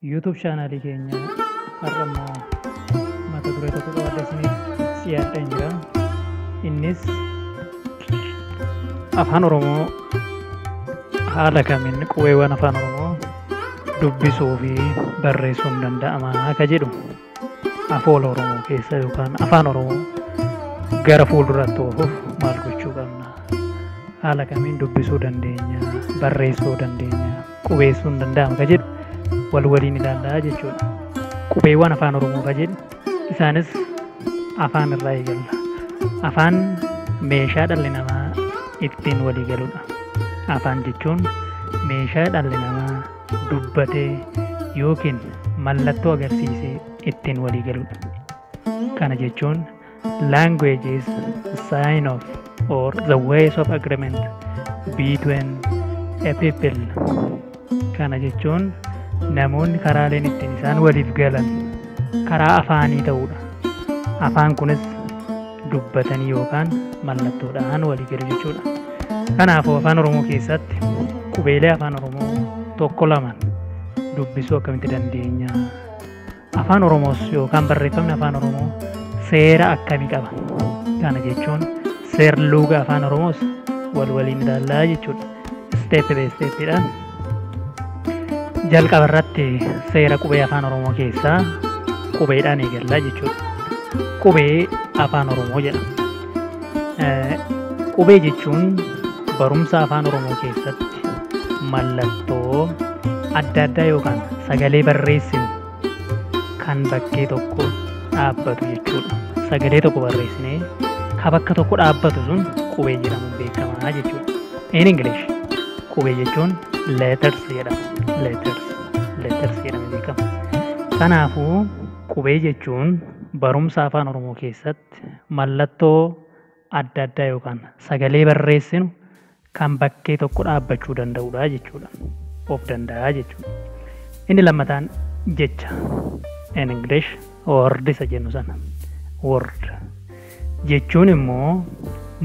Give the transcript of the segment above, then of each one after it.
YouTube chaanaalii keenya har'a immoo mata duree tokko qabadhe isiniif dhiyaadheen jira. Innis afaan Oromoo haala kamiin qubeewwan afaan Oromoo dubbisuu fi barreessuun danda'ama akka jedhu afoola Oromoo keessa yookaan afaan Oromoo gara fuulduraatti oofuuf maal gochuu qabna? Haala kamiin dubbisuu dandeenya? Barreessuu dandeenya? qubeessuun danda'ama ka jedhu wal waliin ilaallaa jechuudha. Qubeewwan afaan Oromoo ka jedhu isaanis afaan irraa eegalla. Afaan meeshaa dhalli namaa ittiin walii galudha. Afaan jechuun meeshaa dhalli namaa dubbatee yookiin mallattoo agarsiisee ittiin walii galudha. Kana jechuun Language is sign of or the ways of agreement between a people. Kana jechuun namoonni karaaleen ittiin isaan waliif galan karaa afaanii ta'uudha. Afaan kunis dubbatanii yookaan mallattoodhaan walii galu jechuudha. Kanaafuu afaan Oromoo keessatti qubeelee afaan Oromoo tokko lamaan dubbisuu akkamitti dandeenya? Afaan Oromoos yookaan barreeffamni Afaan Oromoo seera akkamii qaba? Kana jechuun seerluuga Afaan Oromoos wal waliin ilaallaa jechuudha. Isteep bee isteeppiidhaan jalqaba irratti seera qubee Afaan Oromoo keessaa qubeedhaan eegallaa jechuudha. Qubee Afaan Oromoo jedhama. Qubee jechuun barumsa afaan Oromoo keessatti mallattoo adda addaa yookaan sagalee barreessinu kan bakkee tokko dhaabbatu jechuudha. Sagalee tokko barreessinee ka bakka tokko dhaabbatu sun qubee jedhamuun beekama jechuudha. In English qubee jechuun letters jedhama. Letters letters jedhamee beekama. Kanaafuu qubee jechuun barumsa afaan Oromoo keessatti mallattoo adda addaa yookaan sagalee barreessinu kan bakkee tokko dhaabbachuu danda'udha jechuudha. Of danda'a jechuudha. Inni lammataan jecha in English word isa jennu sana word jechuun immoo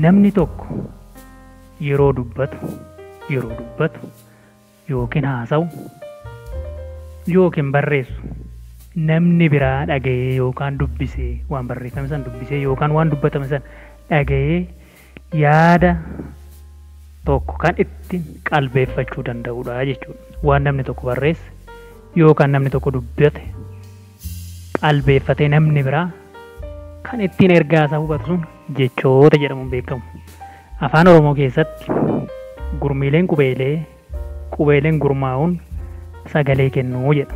namni tokko yeroo dubbatu yeroo dubbatu yookiin haasa'u yookiin barreessu namni biraa dhaga'ee yookaan dubbisee waan barreeffame san dubbisee yookaan waan dubbatame san dhaga'ee yaada tokko kan itti qalbeeffachuu danda'udha jechuudha. Waan namni tokko barreesse yookaan namni tokko dubbate qalbeeffatee namni biraa kan ittiin ergaa isaa hubatu sun jechoota jedhamuun beekamu. Afaan Oromoo keessatti gurmiileen qubeelee qubeeleen gurmaa'uun sagalee kennuu jedha.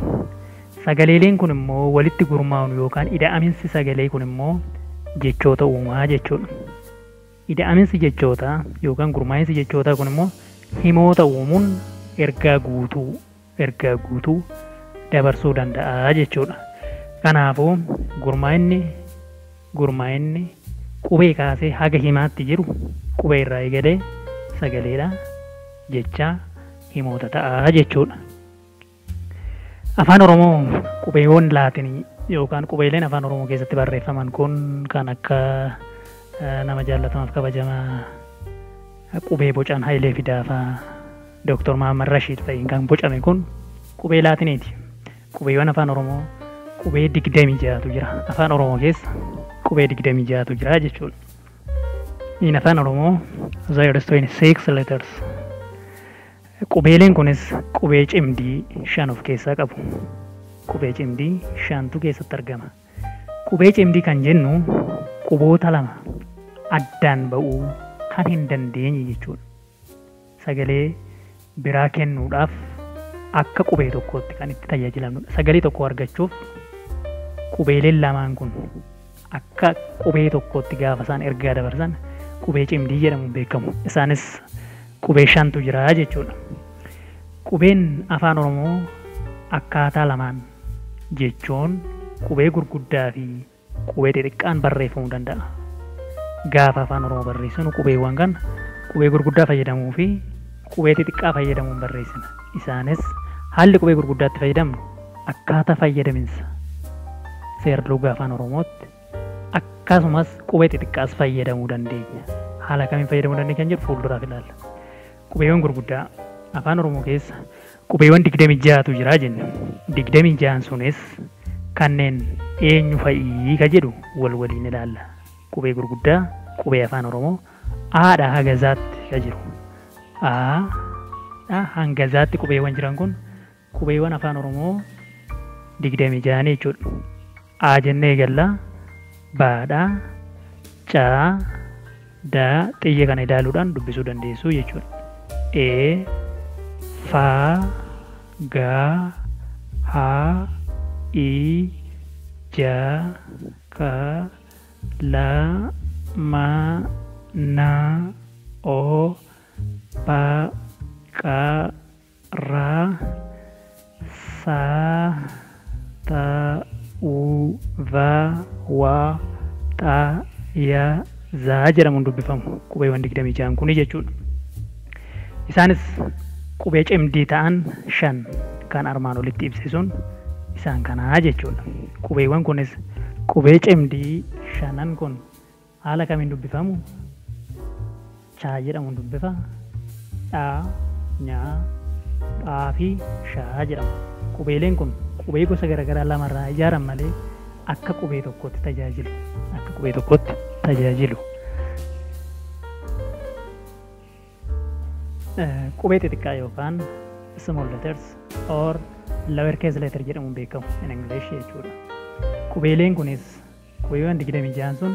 Sagaleeleen kun immoo walitti gurmaa'uun yookaan ida'aminsi sagalee kun immoo jechoota uumaa jechuudha. Ida'aminsi jechootaa yookaan gurmaa'insi jechootaa kun immoo himoota uumuun ergaa guutuu ergaa guutuu dabarsuu danda'a jechuudha. Kanaafuu gurmaa'inni gurmaa'inni qubee kaasee haga himaatti jiru qubee irraa eegalee sagaleedha jechaa himoota ta'a jechuudha. Afaan Oromoo qubeewwan laatinii yookaan qubeeleen afaan Oromoo keessatti barreeffaman kun kan akka nama jaallatamaaf kabajamaa qubee bocaan Hayilee Fidaafaa Doktor Mahaammad Rashiid fa'iin kan bocame kun qubee Laatineeti. Qubeewwan Afaan Oromoo qubee 26tu jira. Afaan Oromoo keessa qubee 26tu jira jechuudha. In Afaan Oromoo there is 26 letters. Qubeeleen kunis qubee cimdii shan of keessaa qabu. Qubee cimdii shantu keessatti argama. Qubee cimdii kan jennu quboota lama addaan ba'uu kan hin dandeenye jechuudha. sagalee biraa kennuudhaaf akka qubee tokkootti kan itti tajaajilamnudha. Sagalee tokko argachuuf qubeeleen lamaan kun akka qubee tokkootti gaafa isaan ergaa dabarsan qubee cimdii jedhamuun beekamu. Isaanis qubee shantu jira jechuudha. Qubeen afaan Oromoo akkaataa lamaan jechuun qubee gurguddaa fi Qubee xixiqqaan barreeffamuu danda'a. Gaafa Afaan Oromoo barreessinu qubeewwan kana qubee gurguddaa fayyadamuu fi qubee xixiqqaa fayyadamuun barreessina. Isaanis haalli qubee gurguddaa itti fayyadamnu akkaataa fayyadaminsa seerluga Afaan Oromootti akkasumas qubee xixiqqaas fayyadamuu dandeenya. Haala kamiin fayyadamuu dandeenya kan jedhu fuulduraaf ilaalla. Qubeewwan gurguddaa Afaan Oromoo keessa Qubeewwan 26tu jira jenne. 26n sunis kanneen eenyu fa'ii ka jedhu wal waliin ilaalla. Qubee gurguddaa qubee Afaan Oromoo A dhaa haga Z tti ka jiru. A dhaa hanga Z tti qubeewwan jiran kun qubeewwan Afaan Oromoo 26ni jechuudha. A jennee eegalla. Ba dha. Ca da xiyya kana ilaaluudhaan dubbisuu dandeessu jechuudha. E fa ga ha i ja ka la ma na o pa qa ra, sa, ta, u, va, wa, xa, ya, za jedhamuun dubbifamu qubeewwan 26n kuni jechuudha. Isaanis qubee cimdii ta'an shan kan armaan olitti ibse sun isaan kanaa jechuudha. Qubeewwan kunis qubee cimdii shanan kun Haala kamiin dubbifamu? chaa jedhamuun dubbifa. dhaa, nyaa, phaa fi shaa jedhamu. Qubeeleen kun qubee gosa garagaraa lama irraa ijaaran malee akka qubee tokkootti tajaajilu. akka qubee tokkootti tajaajilu. Qubee xixiqqaa yookaan small letters or lower case letter jedhamuun beekamu in English jechuudha. Qubeeleen kunis Qubeewwan 26n sun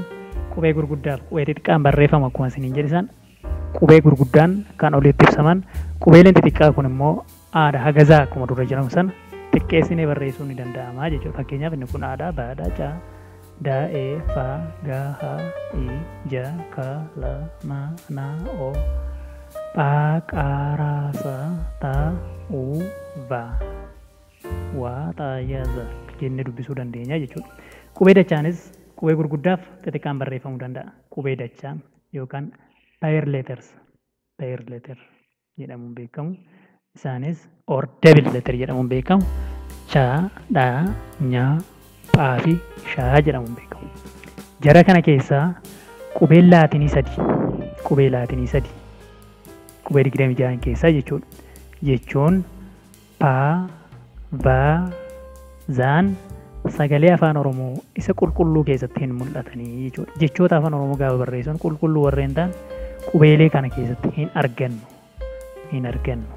qubee gurguddaa fi qubee xixiqqaan barreeffamu akkuma isiniin jedhe san qubee gurguddaan kan oliitti ibsaman qubeeleen xixiqqaa kun immoo aadha hagazaa akkuma dura jedhamu sana xiqqeessinee barreessuun ni danda'ama jechuudha. Fakkeenyaaf inni kun aadha baadha caa da e fa ga ha i ja ka la ma na o pha qa ra sa ta u va waaxaayaza jennee dubbisuu dandeenya jechuudha. Qubee dachaanis qubee gurguddaaf xixiqqaan barreeffamuu danda'a. Qubee dachaa yookaan pair letters, pair letter jedhamuun beekamu. Isaanis or double letter jedhamuun beekamu. Cha, dha, nya, pha fi sha jedhamuun beekamu. Jara kana keessaa qubeen laatinii sadi, qubee laatinii sadi, qubee 26 keessaa jechuudha. Jechuun pa, va, zaan sagalee Afaan Oromoo isa qulqulluu keessatti hin mul'atanii jechuudha. Jechoota Afaan Oromoo gaafa barreessan qulqulluu warreen ta'an qubeelee kana keessatti hin argannu. Hin argannu.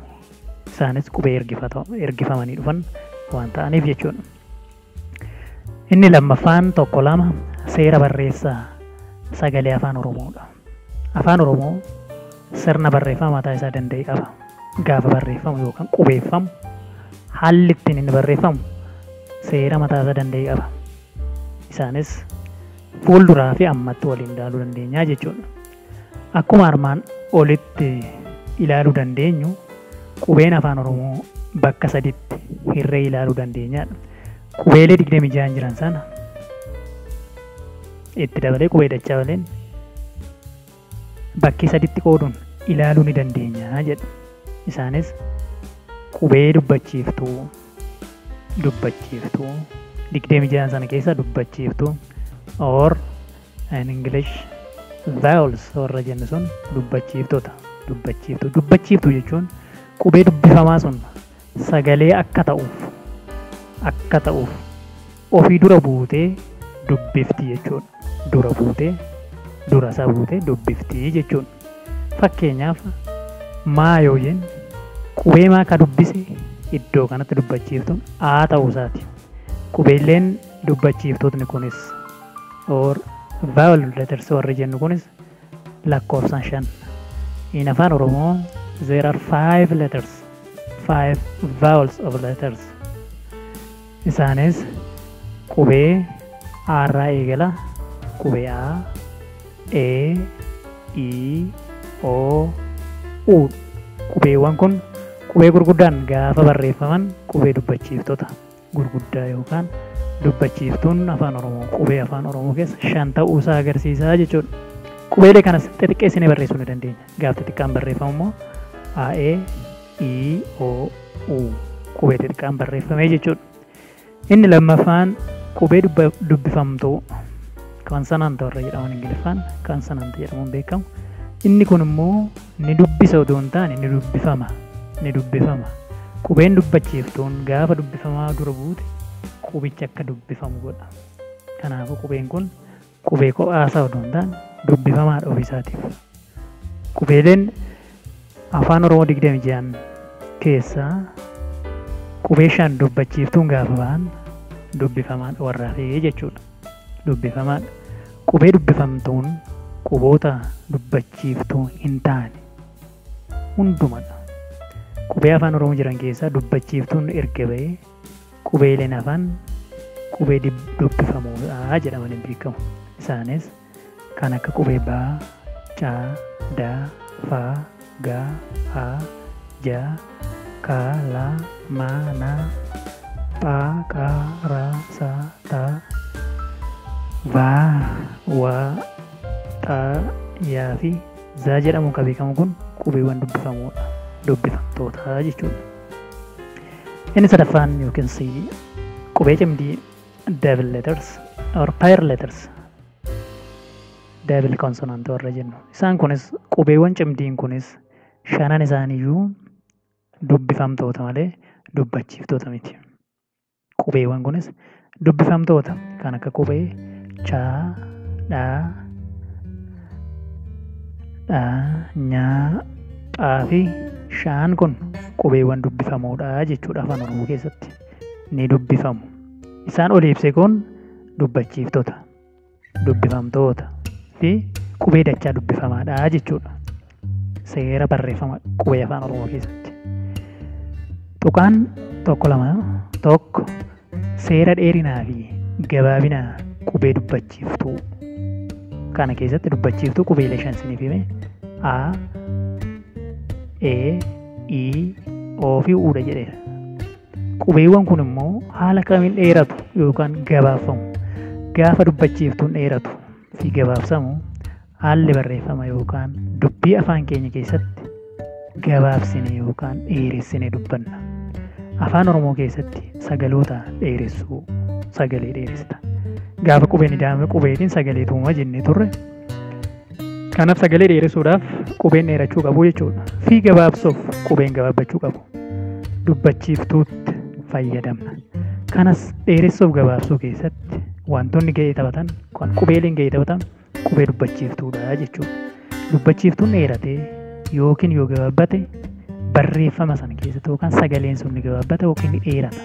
Isaanis qubee ergifamanii dhufan waan ta'aniif jechuudha. Inni lammaffaan tokko lama seera barreessaa sagalee afaan oromoodha. Afaan oromoo sirna barreeffama mataa isaa danda'e qaba. Gaafa barreeffamu yookaan qubeeffamu haalli ittiin inni barreeffamu seera mataa isaa danda'e qaba. Isaanis fuulduraa fi ammatti waliin ilaaluu dandeenya jechuudha. Akkuma armaan olitti ilaaluu dandeenyu qubeen Afaan Oromoo bakka saditti hirree ilaaluu dandeenya. Qubeelee 26 jiran sana itti dabalee qubee dachaa waliin bakkee saditti qooduun ilaaluu ni dandeenya jedhu. Isaanis qubee dubbachiiftuu, dubbachiiftuu, 26 sana keessa dubbachiiftuu or in English, vowels warra jennu sun dubbachiiftota, dubbachiiftuu. Dubbachiiftuu jechuun qubee dubbifamaa sun sagalee akka ta'uuf, akka ta'uuf ofii dura buutee dubbifti jechuudha. Dura buutee, dura isaa buutee dubbifti jechuudha. Fakkeenyaaf maa yoo jennu qubee maa ka dubbise iddoo kanatti dubbachiiftuun aa ta'uu isaati. Qubeelleen dubbachiiftootni kunis or vowel letters warri jennu kunis lakkoofsaan shan. In afaan Oromoo there are five letters, five vowels of letters. Isaanis qubee A irraa eegala, qubee A, E, I, O, U. Qubeewwan kun qubee gurguddaan gaafa barreeffaman qubee dubbachiiftota. gurguddaa yookaan dubbachiiftuun Afaan Oromoo qubee Afaan Oromoo keessa shan ta'uu isaa agarsiisa jechuudha. Qubeelee kanas xixiqqeessinee barreessuu ni dandeenya. Gaaf xixiqqaan barreeffamu immoo A, E, I, O, U qubee xixiqqaan barreeffamee jechuudha. Inni lammaffaan qubee dubbifamtuu konsonant warra jedhaman Ingiliffaan konsonant jedhamuun beekamu. Inni kun immoo Nidubbisa utuu hin taane nidubbifama, nidubbifama. Qubeen dubbachiiftuun gaafa dubbifamaa dura buute qubichi akka dubbifamu godha. Kanaafuu qubeen kun qubee kophaasaa utuu hin taane dubbifamaadha ofiisaatiif. Qubeeleen Afaan Oromoo 26n keessaa qubee shan dubbachiiftuun gaafa bahan dubbifamaadha warraafee jechuudha. dubbifamaa dha. Qubee dubbifamtuun quboota dubbachiiftuu hin taane hunduma dha. Qubee Afaan Oromoo jiran keessaa dubbachiiftuun erga ba'ee qubeeleen hafan qubee dubbifamuu dha jedhamanii beekamu. Isaanis. Kan akka qubee ba, ca, da, fa, ga, a, ja, ka, la, ma, na, pha, qha, ra, sa, ta, va, wa, xa, ya fi za jedhamuun kan beekamu kun qubeewwan dubbifamoodha. Dubbifamtoota jechuudha. Inni sadaffaan yookiin si qubee cimdii double letters or pair letters double consonant warra jennu isaan kunis qubeewwan cimdiin kunis shanan isaaniiyyuu dubbifamtoota malee dubbachiiftoota miti qubeewwan kunis dubbifamtoota kan akka qubee chaa dhaa dhaa nyaa phaa fi shaan kun qubeewwan dubbifamoodha jechuudha afaan oromoo keessatti ni dubbifamu. Isaan olii ibse kun dubbachiiftota, dubbifamtoota fi qubee dachaa dubbifamaadha jechuudha. Seera barreeffama qubee afaan Oromoo keessatti. Tuqaan tokko lama tokko seera dheerinaa fi gabaabina qubee dubbachiiftuu kana keessatti dubbachiiftuu qubeelee shan isiniif hime A, E, I, O fi Uudha jedheera. Qubeewwan kun immoo haala kamiin dheeratu yookaan gabaabfamu? Gaafa dubbachiiftuun dheeratu fi gabaabsamu haalli barreeffama yookaan dubbii afaan keenya keessatti gabaabsine yookaan dheeressine dubbanna. Afaan Oromoo keessatti sagaloota dheeressuu sagalee dheeressita. Gaafa qubeen ida'ame qubeetiin sagalee tuuma jennee turre. Kanaaf sagalee dheeressuudhaaf qubeen dheerachuu qabu jechuudha. Fi gabaabsuuf qubeen gabaabbachuu qabu. Dubbachiiftuutti fayyadamna. Kanas dheeressuuf gabaabsuu keessatti wantoonni ga'ee taphatan, kan qubeeleen ga'ee taphatan qubee dubbachiiftuudha jechuudha. Dubbachiiftuun dheeratee yookiin yoo gabaabbate barreeffama sana keessatti yookaan sagaleen sun ni gabaabbata yookiin ni dheerata.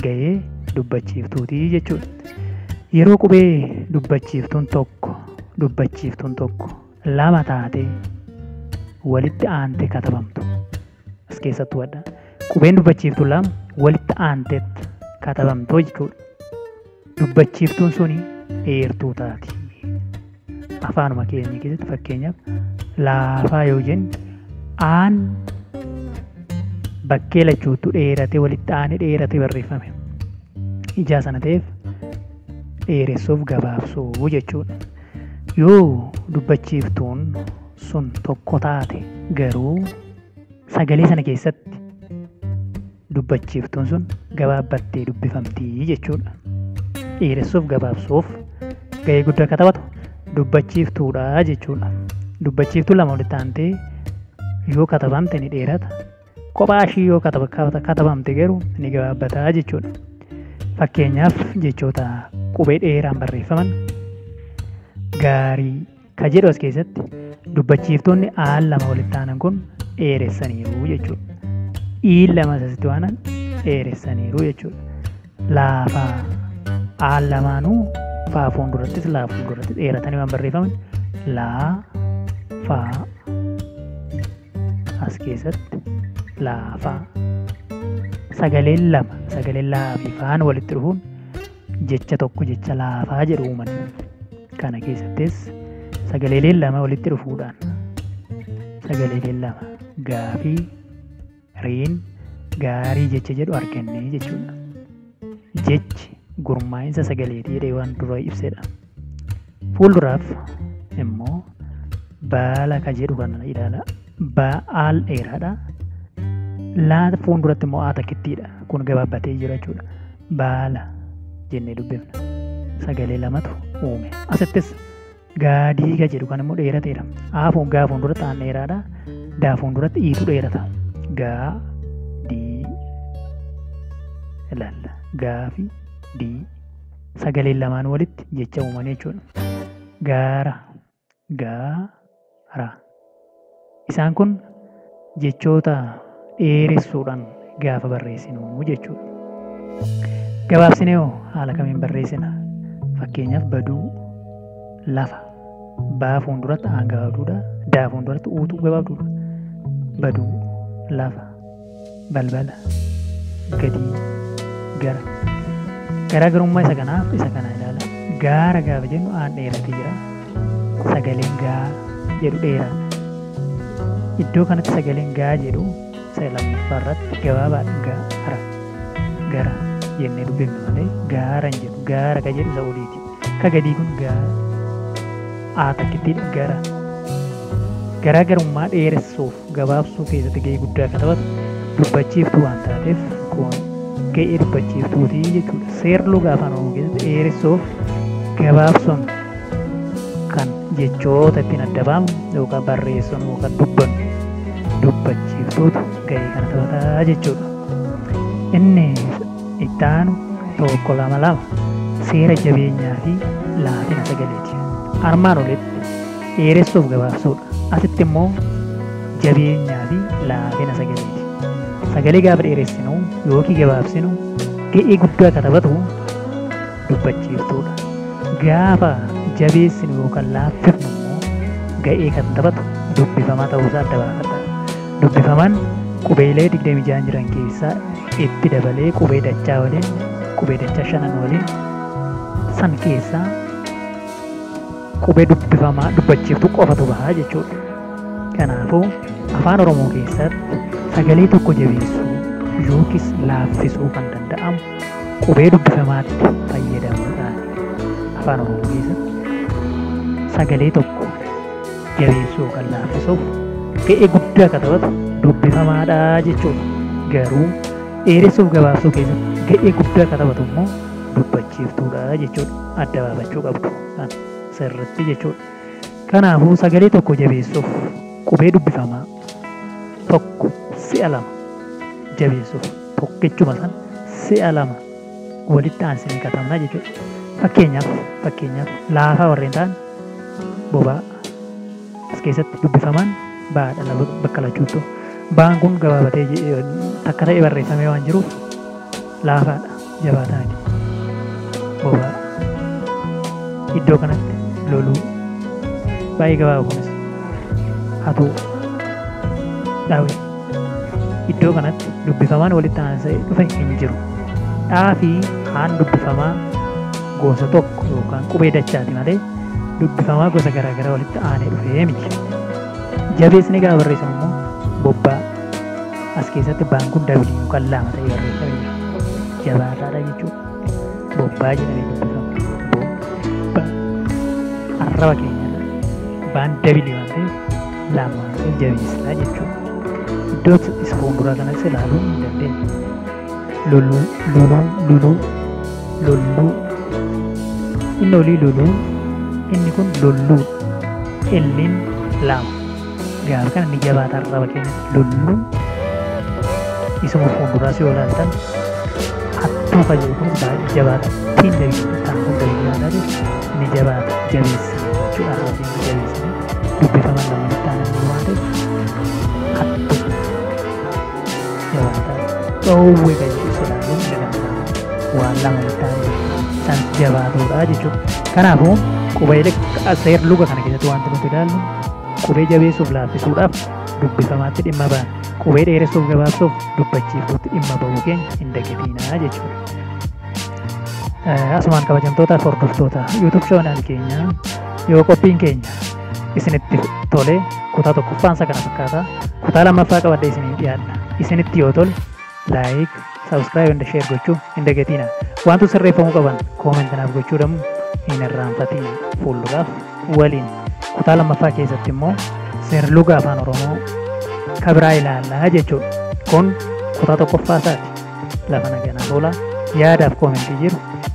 gahee dubbachiiftuutii jechuudha. Yeroo qubee dubbachiiftuun tokko dubbachiiftuun tokko lama taatee walitti aantee katabamtu as keessatti hubadha. Qubeen dubbachiiftuu lama walitti aanteetti katabamtoo jechuudha. Dubbachiiftuun suni eertuu taati. Afaanuma keenya keessatti fakkeenyaaf laafaa yoo jennu aan bakkee lachuutu dheeratee walitti aanee dheeratee barreeffame. Ijaa sana ta'eef dheeressuuf gabaabsuu jechuudha. Yoo dubbachiiftuun sun tokko taate garuu sagalee sana keessatti dubbachiiftuun sun gabaabbattee dubbifamti jechuudha. Dheeressuuf gabaabsuuf gahee guddaa akka taphatu dubbachiiftuudha jechuudha. Dubbachiiftuu lama walitti aantee yoo katabamte ni dheerata. Kophaa ishii yoo katabamte garuu ni gabaabbataa jechuudha. Fakkeenyaaf jechoota qubee dheeraan barreeffaman gaarii ka jedhu as keessatti dubbachiiftoonni aal lama walitti aanan kun dheeressaniiru jechuudha. Iin lama asitti waanan dheeressaniiru jechuudha. Laafaa aal lamaanuu faa fuuldurattis laa fuulduratti dheeratanii waan barreeffaman laa faa as keessatti laafaa sagaleen lama sagaleen laa fi faan walitti dhufuun Jecha tokko jecha laafaa jedhu uuman. Kana keessattis sagaleeleen lama walitti dhufuudhaan sagaleeleen lama gaafii riin gaarii jecha jedhu arganne jechuudha. Jechi gurmaa'insa sagaleetii jedhee waan dura ibsedha. Fuulduraaf immoo baala ka jedhu kana ilaala. Baal dheeraadha. Laa fuulduratti immoo aa takkittiidha. Kun gabaabbatee jira jechuudha. Baala jennee dubbifna. Sagalee lamatu uume. Asittis gaadii ka jedhu kan immoo dheerateera. Aa fuun gaa fuulduratti aan dheeraadha. Daa fuulduratti iitu dheerata. Gaa dii ilaalla. Gaa fi dii sagaleen lamaan walitti jecha uumanii jechuudha. Gaara, gaara. Isaan kun jechoota dheeressuudhaan gaafa barreessinu jechuudha. Gabaabsinee hoo haala kamiin barreessina? Fakkeenyaaf baduu, lafa, baa fuulduratti aan gabaabduudha, daa fuulduratti uutu gabaabduudha. Baduu, lafa. balbala, gadii, gara. Garaagarummaa isa kanaaf isa kana ilaala. Gaara gaafa jennu aan dheeratee jira. Sagaleen gaa jedhu dheeraadha. Iddoo kanatti sagaleen gaa jedhu isa lammaffaa irratti gabaabaadha gaara. Gara jennee dubbifna malee gaara hin jedhu. Gaara ka jedhu isa oliiti. Akka gadii kun ga aa takkittiidha gara garaagarummaa dheeressuuf gabaabsuu keessatti ga'ee guddaa akka taphatu dubbachiiftuu waan taateef kun ga'ee dubbachiiftuuti jechuudha. Seerluga afaan oromoo keessatti dheeressuuf gabaabsuun kan jechoota ittiin adda baafnu yookaan barreessuun yookaan dubbannu dubbachiiftuutu ga'ee kana taphataa jechuudha. Inni Itti aanu 1 2 2 seera jabeenyaa fi laafina sagaleeti. Armaan olitti dheeressuuf gabaabsuudha. Asitti immoo jabeenyaa fi laafina sagaleeti. Sagalee gaafa dheeressinu yookiin gabaabsinu ga'ee guddaa akka taphatu dubbachiiftuudha. Gaafa jabeessinu yookaan laaffifnu immoo ga'ee kan taphatu dubbifamaa ta'uusaa adda baafadha. dubbifaman qubeelee 26n jiran keessaa itti dabalee qubee dachaa waliin qubee dachaa shanan waliin san keessaa qubee dubbifamaa dubbachiiftu qofatu bahaa jechuudha. Kanaafuu afaan Oromoo keessatti sagalee tokko jabeessuu yookiis laaffisuu kan danda'amu qubee dubbifamaatti fayyadamuudhaan afaan Oromoo keessatti sagalee tokko dheereessuu yookaan laaffisuuf ga'ee guddaa akka taphatu dubbifamaadha jechuudha. Garuu dheeressuuf gabaabsuu keessatti ga'ee guddaa akka taphatu immoo dubbachiiftuudha jechuudha. Adda baafachuu qabdu kan sirriitti jechuudha. Kanaafuu sagalee tokko jabeessuuf qubee dubbifamaa tokko si'a lama jabeessuuf tokkichuma san si'a lama walitti aansinee katabna jechuudha. Fakkeenyaaf fakkeenyaaf laafaa warreen ta'an Bobaa. As keessatti dubbifamaan ba'aa dha laba bakka lachuuttu. Ba'aan kun gabaabatee je- eh, takka ta'ee barreeffamee waan jiruuf laafaa dha, jabaataa miti. Bobaa. Iddoo kanatti loluu. Baay'ee gabaaba kunis. Hatuu. Dhaawee. Iddoo kanatti dubbifamaan walitti aansa'ee dhufe hin jiru. Dhaa fi haan dubbifamaa gosa tokko yookaan qubee dachaati malee dubbifamaa gosa garaagaraa walitti aanee dhufee miti. Jabeessine gaafa barreessan immoo bobbaa as keessatti baan kun W yookaan lama ta'ee barreeffamee jira. Jabaataadha jechuudha. Bobbaa jedhamee dubbifama. Bobbaa arraba keenya baan W waan ta'eef lama hin jabeessinaa jechuudha. Iddoo isa fuulduraa kanas ilaaluu hin dandeenye. Loluu, luluu, luluu, lolluu. Inni olii luluu, inni kun lolluu. Illiin lama. Gaafa kana ni jabaata arraba keenyatti lolluu. Isuma fuulduraas yoo ilaaltan hattuu fayyadu kun baay'ee jabaata. Ittiin jabeessu kan kun jabeessu ni jabaata jabeessa jechuudha arraba keenya jabeessa. dubbifaman lama itti aananii waan ta'eef adda jabaata dhoowwe kan jedhu sodaanuu hin danda'amu waan lama itti aananii kan jabaatudha jechuudha. Kanaafuu qubeelee seer luga kana keessatti wanti nuti ilaallu qubee jabeessuuf laaffisuudhaaf dubbifamaatti dhimma baana. Qubee dheeressuuf gabaabsuuf dubbachiiftuutti dhimma bahuu keenya hin dagatinaa jechuudha. Asumaan kabajamtootaaf hordoftoota YouTube channel keenyaa Yoo qophiin keenya isinitti tole kutaa tokkoffaan isa kana fakkaata. Kutaa lammaffaa qabadhee isiniif dhiyaadha. Isinitti yoo tole laayik, saabskraayib inda sheer gochuu hin dagatiina. Wantoota sirreeffamuu qaban koomenti naaf gochuu dhammu hin irraanfatiin fuulduraaf waliin. Kutaa lammaffaa keessatti immoo seerluga afaan Oromoo kabiraa ilaallaa jechuudha. Kun kutaa tokkoffaa isaati. Lafa naganaa tola yaadaaf koomentii jiru